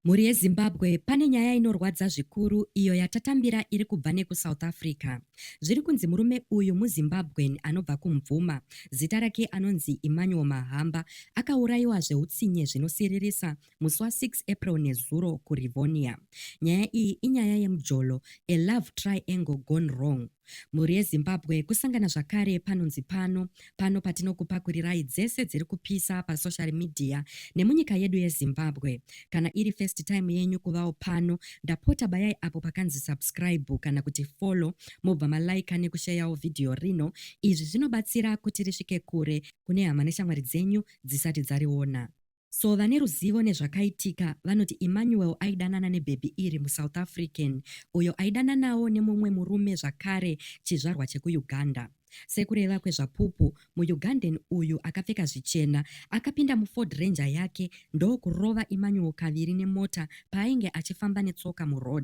Mhuri yeZimbabwe pane nyaya inorwadza zvikuru iyo yatatambira iri kubva nekuSouth Africa. Zviri kunzi murume uyu muZimbabwean anobva kuMvuma, zita rake anonzi Emmanuel Mahamba, akaurayiwa zveutsinye zvinosiririsa musi wa 6 April nezuro kuRivonia. Nyaya iyi inyaya yemujolo, a love triangle gone wrong. Mhuri yeZimbabwe kusangana zvakare panonzi pano, pano patinokupakurirai dzese dziri kupisa pasocial media nemunyika yedu yeZimbabwe. Kana iri first time yenyu kuvawo pano, ndapota bayai apo pakanzi subscribe kana kuti follow mobva malaika nekusheyawo vhidhiyo rino. Izvi zvinobatsira kuti risvike kure kune hama neshamwari dzenyu dzisati dzariona. So vane ruzivo nezvakaitika vanoti Emmanuel aidanana nebhebhi iri muSouth African uyo aidananawo nemumwe murume zvakare chizvarwa chekuUganda. Sekureva kweZvapupu, muUgandan uyu akapfeka zvichena akapinda muFord Ranger yake ndokurova Emmanuel kaviri nemota paainge achifamba netsoka muroad.